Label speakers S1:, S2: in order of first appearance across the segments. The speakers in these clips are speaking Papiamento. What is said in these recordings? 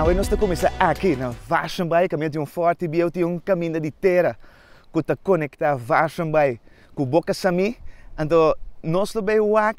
S1: Awe nos ta kuminsá aki na Washenbaai kaminda di un fòrti bieu ti un kaminda di tera ku ta konektá Washenbaai ku Bokasamee. Anto nos lo bai wak.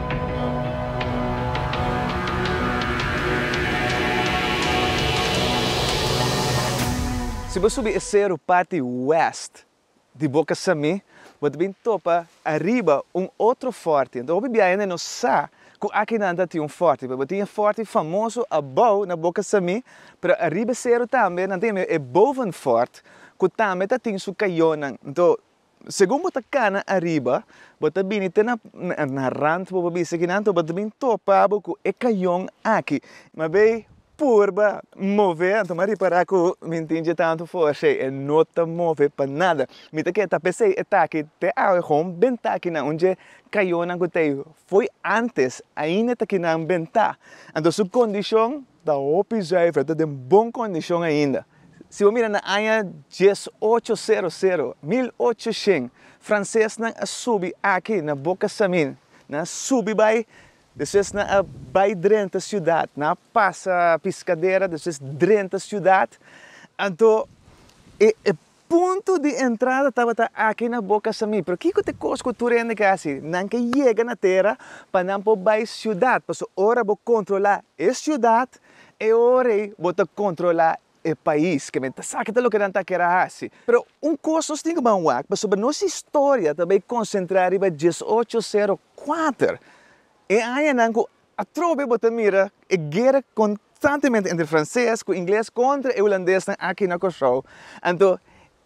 S1: Si bo subi e seru parti wèst di boka Samé, bo ta bin topa ariba un otro fòrti. Anto hopi biaha hende no sa ku akinan ta tin un fòrti, pero bo tin e fòrti famoso abou na boka Samé, pero ariba e seru tambe nan tin e Bovenfort ku tambe ta tin su kayonan. Anto Segun bo ta kana ariba, bo ta bini te na na rant bo pa bisa ki nan ta bo ta bin topa bo ku e kayon aki. Mas bai purba move anto m'a ripará ku mi tin dje tantu forsa ei, e no ta move pa nada. Mi ta ke ta pesei e taki te awe e hon bentá kinan un dje kayonnan ku ta ei fo'i antes ainda ta kinan bentá. Anto su kondishon Ta hopi zuiver, a ta den bon kondishon ainda. Si bo mira na aña dies ocho sero sero, mil ocho shen, fransesnan a subi aki na bo kasamin, nan a subi bai, despues nan a bai drenta siudat, nan a pasa Piscadera, despues drenta siudat, anto e Punto di entrada tabata aki na boka Samí, pero kiko ta e kos ku tur hende ke hasi? Nan ke yega na tera pa nan por bai siudat, pasobra ora bo kontrolá e siudat, e ora ei bo ta kontrolá e pais. Ke men ta sa kiko loke nan ta kere hasi. Pero un kos nos tin ku ban wak, pasobra nos historia ta bai konsentrá riba diesocho sero kuater, e añanan ku Atrobe bo ta mira e guera konstantemente entre franses ku ingles kontra e hulandesnan aki na Kòrsou. Anto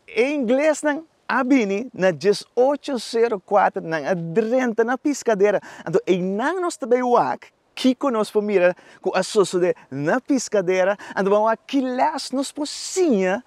S1: e inglesnan a bini na dies ocho sero kuater, nan a drenta na Piskadera. Anto einan nos ta bai wak kiko nos por mira ku a sosodé na Piskadera, anto ban wak ki lès nos por siña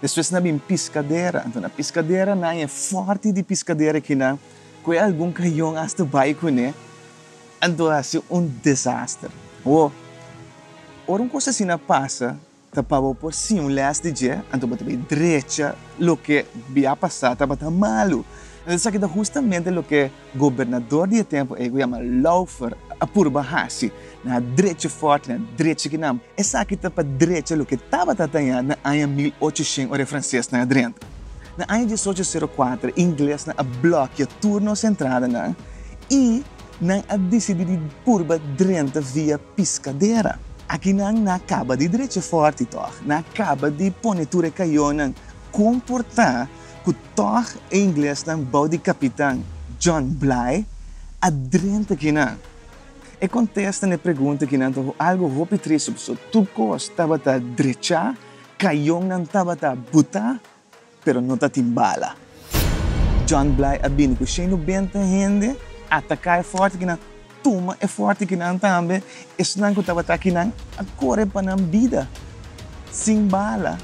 S1: Despues nan bin piskadera. Anto piskaderanan e forti di piskadera kinan ku e algun kayon asta bai kuné. Anto a si un desaster. Bo, ora un kos asina a pasa, ta pa bo por si un lès di dje, anto bo ta bai drecha loke bi a pasá tabata malu. Esaki ta hustamente loke. Gobernador di e tempu ei ku yama Laufer a purba hasi na drechi fòrt, na drechi kinan. Esaki ta pa drecha loke tabata tañá na aña mil ocho shen ora e fransesnan a drenta. Na aña dies ocho sero kuater inglesnan a blòkia tur nos entradanan i nan a disidí di purba drenta via Piscadera. Aki nan na kaba di drecha fòrt i tòg na kaba di pone tur e kayonan komportá. cu tog e inglesnan bao di capitan John Bligh a drenta kinan. E contesta n'e pregunta kinan ta algo hopi triste pasobra tur cos tabata drecha, cañonnan tabata buta, pero no tatin bala. John Bligh a bini cu shei nubenta hende a ataca e forte kinan. Tuma e forte ki nan tambe esnan ku tabata aki nan a kore pa nan bida sin bala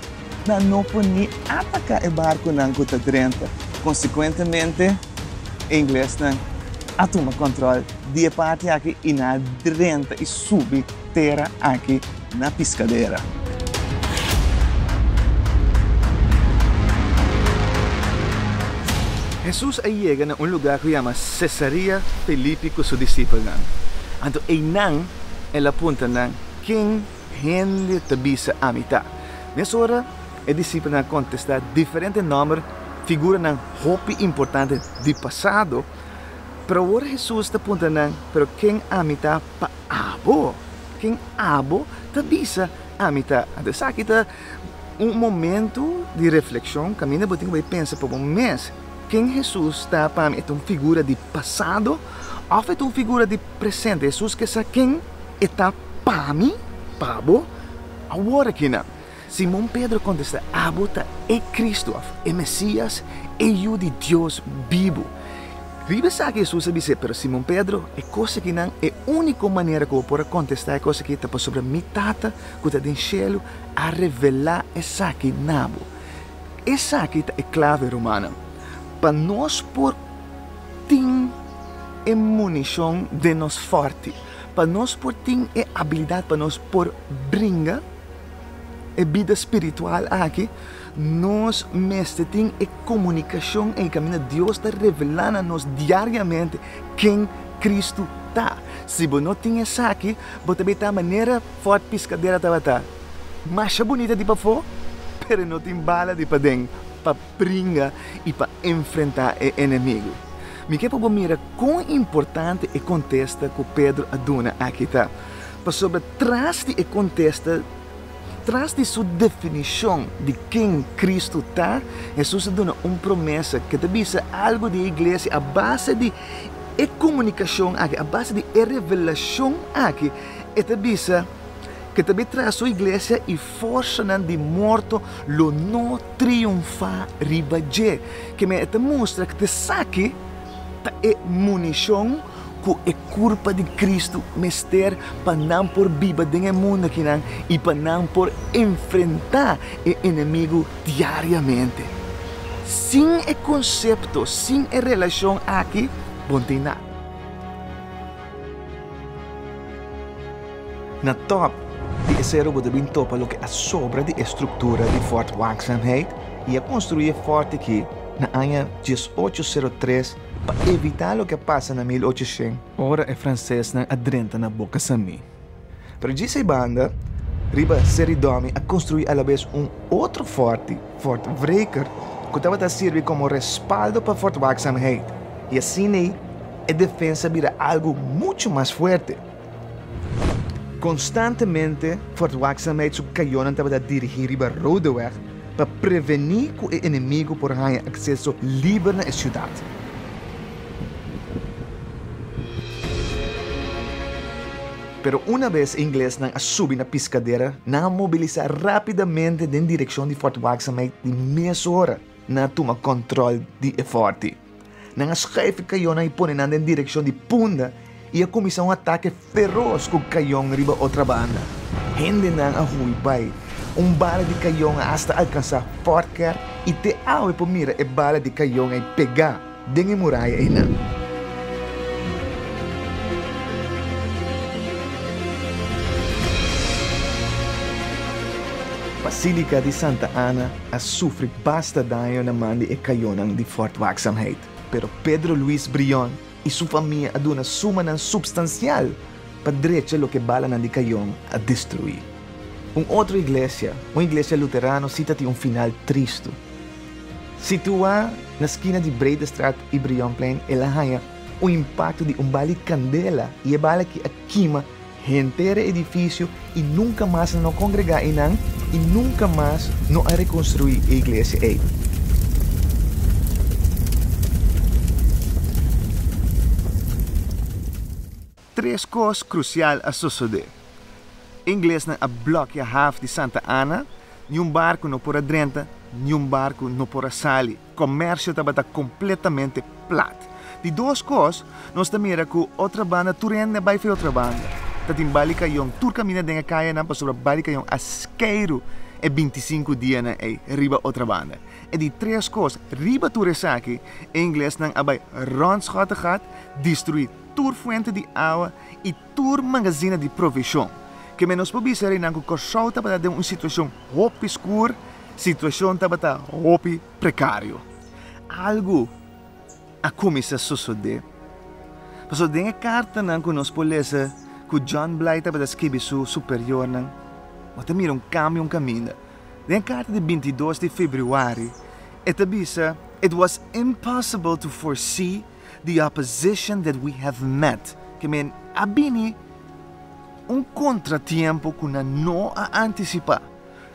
S1: nan no por ni ataka e barkunan ku ta drenta. Konsekuentemente e inglesnan a tuma kòntròl di e parti aki i nan a drenta i subi. tera aki na Piscadera. Hesus a yega na un lugá ku yama Sesaria Filipi ku su disipelnan. Anto einan el a punta nan, Ken hende ta bisa ami ta? Mes ora e disipelnan a kontestá diferente nòmber figuranan hopi importante di pasado. Pero awor Hesus ta punta nan, Pero ken ami ta? pa abo. Ken abo ta bisa, ami ta. Anto esaki ta un momento di reflekshon, kaminda bo tin ku bai pensa pa bo mes, Ken Hesus ta pa mi? E ta un figura di pasado òf e ta un figura di presente? Hesus ke sa ken E ta pa mi, pa bo, awor akinan? Simon Pedro kontestá, Abo ta e Kristu, òf e Mesías, e Yu di Dios bibu. Riba esaki Hesus a bis'é, Pero Simon Pedro, e kos aki nan, e úniko manera ku bo por a kontestá e kos aki ta pasobra mi Tata ku ta den shelu a revelá esaki na bo. Esaki ta e klave, rumannan, pa nos por tin e munishon den nos fòrti, pa nos por tin e abilidat pa nos por bringa. e bida spiritual aki, nos mester tin e komunikashon ei kaminda Dios ta revelá na nos diariamente ken Kristu ta. Si bo no tin esaki, bo ta beta manera fòrt piskadera tabata, masha bunita di pafó, pero no tin bala di paden pa pringa i pa enfrentá e enemigu. Mi ke pa bo mira kon importante e kontesta ku Pedro a duna aki ta. Pasobra tras di e kontesta, tras di su definishon di ken Kristu ta, Hesus a duna un promesa ke ta bisa algu di e iglesia a base di e komunikashon akí, a base di e revelashon akí. E ta bisa ke ta bai traha su iglesia i forsanan di morto lo no triunfá riba dje. Ke men e ta mustra ku esaki ta e munishon. ku e kurpa di Kristu mester pa nan por biba den e mundu akinan i pa nan por enfrentá e enemigu diariamente. Sin e konsepto, sin e relashon aki, bo no tin nada. Na tòp di e sero bo ta bin topa loke a sobra di e struktura di Fort Waakzaamheid i a konstruí e fòrti ki na aña diesocho sero tres Pa evitá loke a pasa na mil ocho shen, ora e fransesnan a drenta na Boca Samí. Pero dje seibanda, riba Seri Dòmi a konstruí alabes un otro fòrti, Fort Wreker, ku tabata sirbi komo respaldo pa Fort Waakzaamheid, i asin'ei e defensa bira algu muchu mas fuerte. Konstantemente Fort Waakzaamheid su kayonan tabata dirigí riba Roodeweg pa prevení ku e enemigu por haña akseso liber na e siudat. Pero una bes e inglesnan a subi na Piscadera, nan a mobilisá rápidamente den direkshon di Fort Waakzaamheid di mesora nan a tuma kòntròl di e fòrti. Nan a skaf e kayonnan i pone nan den direkshon di punda i a kuminsá un atake feros ku kayon riba otra banda. Hendenan a hui bai. Un bala di kayon a asta alkansá Fortkerk i te awe por mira e bala di kayon ei pegá den e muraya einan. Basílika di Santa Ana. a sufri basta daño na man di e kayonan di Fort Waakzaamheid, pero Pedro Luis Brion i su famia a duna sumanan supstansial pa drecha loke balanan di kayon a destruí. Un otro iglesia, un iglesia luterano sita tin un final tristu. Situá na skina di Bredestraat i Brionplein, el a haña un impakto di un bali kandela i e bala ki a kima Henter edifisio i nunka mas nan a kongregá einan i nunka mas no a rekonstruí e iglesia ei. Tres kos krusial a sosodé. Inglesnan a blòkia haf di Santa Ana, niun barku no por a drenta, niun barku no por a sali. Comercio tabata completamente plat. Di dos cos, nos ta mira cu otra banda tur hende a bay fe otra banda. Ta tin bali cayon tur camina den e cayanan pasobra bali cayon a skeru e binti sinku dianan ey riba otra banda. E di tres cos, riba tur esaki, e inglesnan a bay rondschottigad, destrui tur fuente di awa y tur magazina di provision. Keme nos por bisa reynan cu Corsou tabata den un situacion hopi skur Situashon tabata hopi prekario. Algu a kuminsá sosodé. Pasobra den e kartanan ku nos por lesa ku John Blyth tabata skibi su superiornan, bo ta mira un kambio, un kaminda. Den e karta di bintidos di februari e ta bisa, It was impossible to foresee the opposition that we have met. Ke men, a bini un kontratiempo ku nan no a antisipá.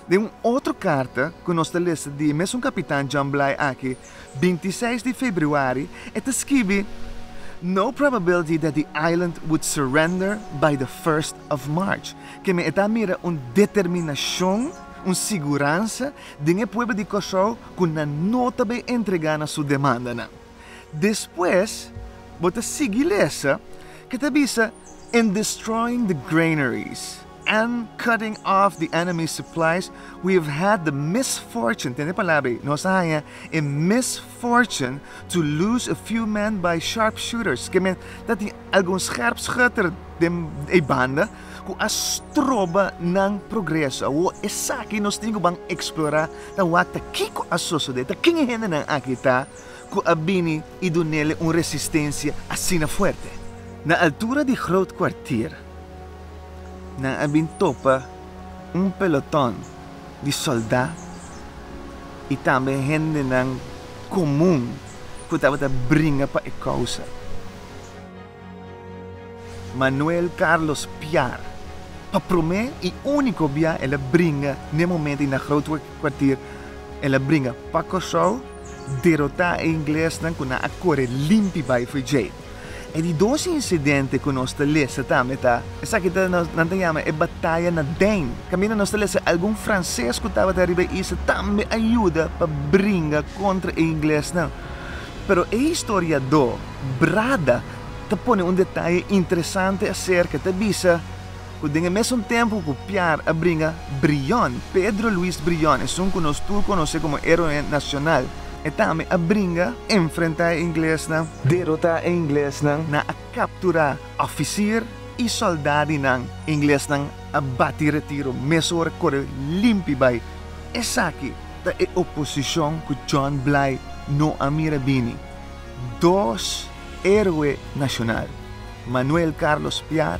S1: Den un otro carta cu nos ta lesa di e mesun Capitan John Bligh aki, binti seis di februari, e ta skibi, No probability that the island would surrender by the first of March. Keme e ta mira un determinacion, un siguransa den e pueblo di Curaçao cu nan no ta bay entrega na su demandanan. Despues bo ta sigui lesa ke ta bisa, and destroying the granaries. and cutting off the enemy's supplies, we have had the misfortune, tende palabra ei, nos a haña e misfortune to lose a few men by sharpshooters, ke men ta tin algun scherpschutter den e banda ku a stroba nan progreso. Awo esaki nos tin ku ban eksplorá ta wak-ta kiko a sosodé, ta ken e hendenan aki ta ku a bini i dunele un resistensia asina fuerte. Na altura di Groot Kwartier, Nan a bin topa un peloton di soldá i tambe hendenan komun ku tabata bringa pa e kousa. Manuel Carlos Piar, pa promé i úniko bia el a bringa n'e momentu i na Grootkuartier, el a bringa pa Kòrsou, derotá e inglesnan ku nan a kore limpi bai Free Jay. E di dos incidente cu nos ta lesa tambe ta, esaki ta nan ta yama e bataya na den. Caminda nos ta lesa algun Frances cu tabata riba e isla tambe a yuda pa bringa contra e inglesnan. Pero e historiador Brada ta pone un detaye interesante acerca, ta bisa. Ku den e mesun tempu ku Piar a bringa, Brion, Pedro Luis Brion, esun ku nos tur konos'é komo Héroe Nacional, e tambe a bringa enfrentá e inglesnan, derotá e inglesnan, nan a kapturá òfisir i sòldá di nan, inglesnan a bati retiro mes ora kore limpi bai. Esaki ta e oposishon ku John Blay no a mira bini, dos Héroe Nacional, Manuel Carlos Piar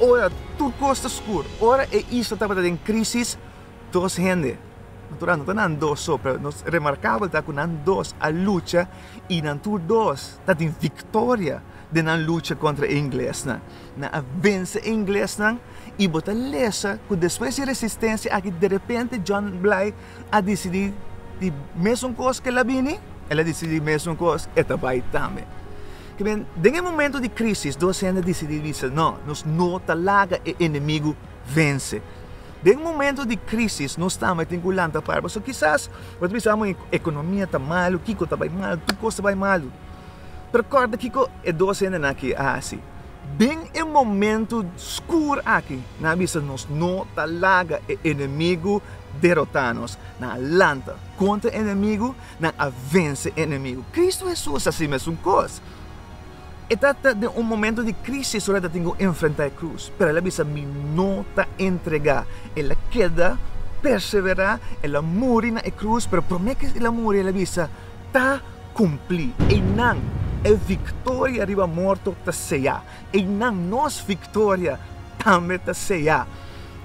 S1: Ora tur kos ta skur, ora e isla tabata den krisis, dos hende, natural no ta nan dos so, pero nos remarkabel ta ku nan dos a lucha i nan tur dos ta tin viktoria den nan lucha kontra e inglesnan. Nan a vense e inglesnan i bo ta lesa ku despues di e resistensia aki derepente John Bligh a disidí di mesun kos ku el a bini, el a disidí di mesun kos e ta bai tambe. Ta bien, den e momentu di krísis dos hende a disidí bisa, no, nos no ta laga e enemigu vense. Den momentu di krísis nos tambe tin ku lanta para. Pasobra kisas bo ta bisa, amo e ekonomia ta malu, kiko ta bai malu, tur kos ta bai malu. Pero kòrda kiko e dos hendenan akí a hasi. Den e momentu skur aki, nan a bisa nos no ta laga e enemigu derotá nos. Nan a lanta kontra e enemigu, nan a vense e enemigu. Kristu Hesus hasi mesun kos. E tabata den un momentu di krísis ora el a tin ku enfrentá e krus, pero el a bisa, Mi no ta entregá. El a keda perseverá, el a muri na e krus, pero promé ki el a muri el a bisa, Ta. kumplí. Einan e viktoria riba morto ta seá. Einan nos viktoria tambe ta seá.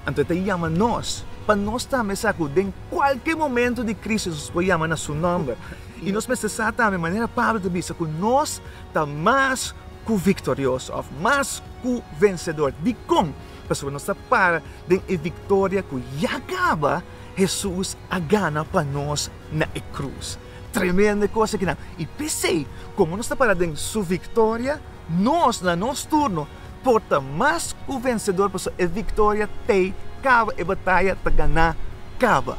S1: Anto e ta yama nos pa nos tambe sa ku den kualke momentu di krísis nos por yama na su nòmber. I nos mester sa tambe, manera Pablo ta bisa, ku nos ta mas ku viktorioso òf mas ku vensedor. Dikon? Pasobra nos ta para den e viktoria ku ya kaba, Hesus a gana pa nos na e krus. Tremende cos akinan. Y pesey como nos ta para den su victoria, nos na nos turno por ta mas cu vencedor pasobra e victoria t'ey caba, e bataya ta gana caba.